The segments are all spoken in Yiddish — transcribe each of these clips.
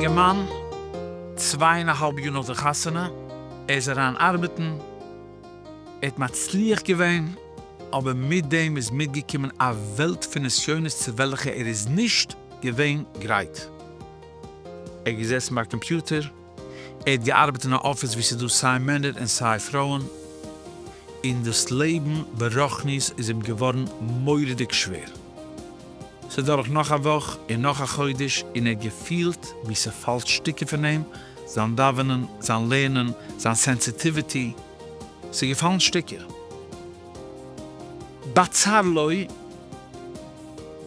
אינגערמאן, צוויי און א האלב יאר נאך די חתונה, ער איז אריין ארבעטן, ער האט מצליח געווען, אבער מיט דעם איז מיטגעקומען א וועלט פון נסיונות צו וועלכע ער איז נישט געווען גרייט. ער איז געזעסן ביי א קאמפיוטער, ער האט געארבעט אין א אפיס ווי ס'איז דא סיי מענער און סיי פרויען, און דאס לעבן ברחנית איז אים געווארן מורא'דיג שווער. ס'איז דורך נאך א וואך און נאך א חודש און ער האט געפילט ווי ס'פאלט שטיקער פון אים, זיין דאווענען, זיין לערנען, זיין סענסיטיוויטי, ס'איז געפאלן שטיקער. בצר לו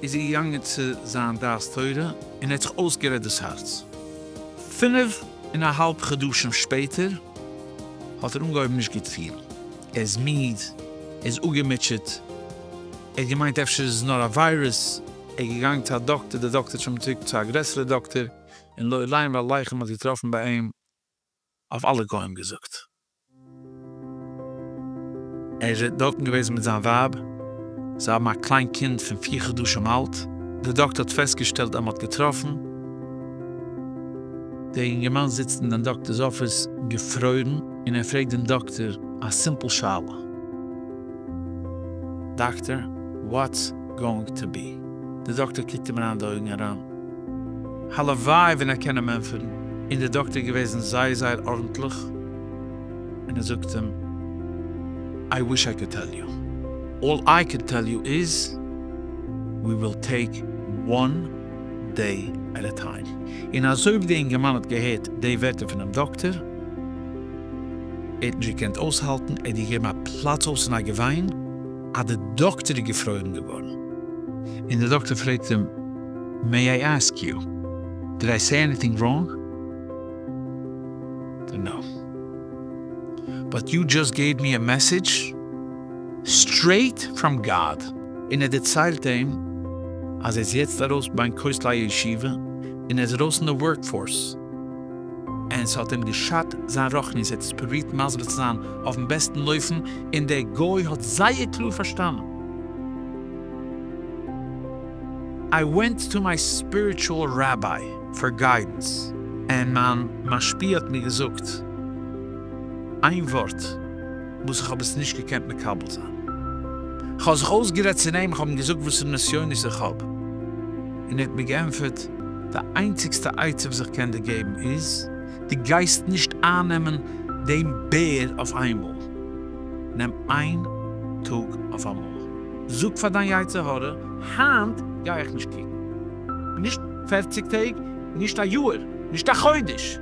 איז ער געגאנגען צו זיין דעת תורה און ער האט זיך אויסגערעדט דאס הארץ. פינף און א האלב חדשים שפעטער האט ער אנגעהויבן נישט גוט פילן, ער איז מיד, ער איז אפגעמוטשעט, ער האט געמיינט אפשר איז עס נאר א וויירוס, ער איז געגאנגען צו א דאקטער, דער דאקטער האט שוין געשיקט צו א גרעסערע דאקטער, און לא עליין והלחם האט געטראפן ביי אים אויף אלע גוים געזאגט. ער איז אין דארטן געוועזן מיט זיין ווייב, זיי האבן א קליין קינד פון פיר חדשים אלט, דער דאקטער האט פעסטגעשטעלט אז מען האט געטראפן. דער אינגערמאן זיצט אין דעם דאקטער'ס אפיס געפרוירן, און ער פרעגט דעם דאקטער א סימפל שאלה, דאקטער, וואטס גאוינג טו בי? דער דאקטער קוקט אים אריין אין די אויגן אריין. הלוואי ווען ער קען אים ענטפערן, און דער דאקטער איז געוועזן זייער זייער ארנטליך, און ער זאגט אים, איי וויש איי קאד טעל יו, אלל איי קען טעל יו איז, ווי וויל טעיק וואן דעי עט א טיים. און אזוי ווי דער אינגערמאן האט געהערט די ווערטער פונעם דאקטער, ער האט נישט געקענט אויסהאלטן, ער האט געגעבן א פלאץ אויס אין א געוויין, אז דער דאקטער איז געפרוירן געווארן, און דער דאקטער פרעגט אים, מעי איי אסק יו, דיד איי סעי עניטינג ראנג? נא. באט יו דזשאסט געיוו מי א מעסעדזש סטרעיט פראם גאד. און ער דערציילט אים אז ער איז יעצט ארויס בין כותלי הישיבה און ער איז ארויס אין די ווארק פארס, און ס'האט אים געשאדט זיין רחניות, ער האט עס פרובירט מסביר צו זיין אויפן בעסטן אופן, און דער גוי האט זייער קלאר פארשטאנען. איי ווענט טו מיי ספיריטשועל ראביי פאר גיידענס ענד מיין משפיע האט מיר געזאגט איין ווארט וואס איך האב עס נישט געקענט מקבל זיין כ'האב זיך אויסגערעדט צו אים כ'האב אים געזאגט וואסערע נסיונות איך האב און ער האט מיר געענטפערט די איינציגסטע עצה וואס איך קען דיר געבן איז דו גייסט נישט איינעמען דעם בער אויף איינמאל נעם איין טאג אויף אמאל. זאג פאר דיין יצר הרע, היינט גיי איך נישט קוקן. נישט פערציג טעג, נישט א יאהר, נישט א חודש.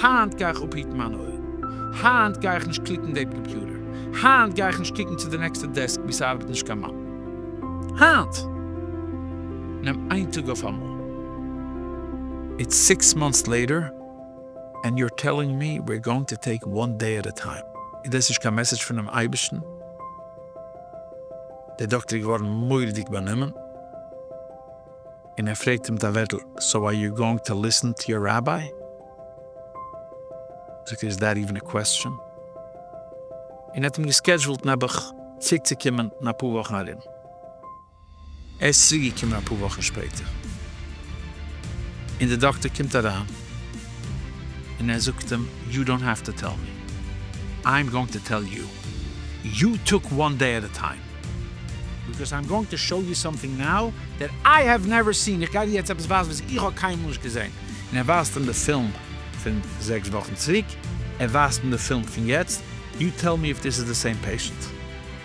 היינט גיי איך אפהיטן מיינע אויערן. היינט גיי איך נישט קליקן דעי קאמפיוטער. היינט גיי איך נישט קוקן צו די נעקסטע דעסק ווי ס'ארבעט נישט קיין מאן. היינט! נעם איין טאג אויפאמאל. איטס סיקס מאנטס לעיטער ענד יו אר טעללינג מי וויר גאוינג טו טעיק וואן דעי עט ע טיים. איז דעס נישט קיין מעסעדזש פונעם אייבערשטן? דער דאקטער איז געווארן מורא'דיג באנומען, און ער פרעגט אים מיט א ווערטל, סאו אר יו גאוינג טו ליסן טו יור ראביי? זאגט ער, איז דעט איווען א קוועסטשען? און ער האט אים געסקעדזשועלט נעבעך צוריקצוקומען אין אפאר וואכן ארום. ער איז צוריקגעקומען אפאר וואכן שפעטער, און די דאקטער קומט אריין און ער זאגט אים, יו דאנט העוו טו טעל מי, איי עם גאוינג טו טעל יו, יו טעק וואן דעי עט ע טיים, ביקאוז איי עם גאוינג טו שאו יו סאמטינג נאו דעט איי העוו נעווער סין, איך גיי דיר יעצט עפעס ווייזן וואס איך האב קיינמאל נישט געזען, און ער ווייזט אים די פילם פון זעקס וואכן צוריק, ער ווייזט אים די פילם פון יעצט, יו טעל מי איף דיס איז די סעים פעישענט.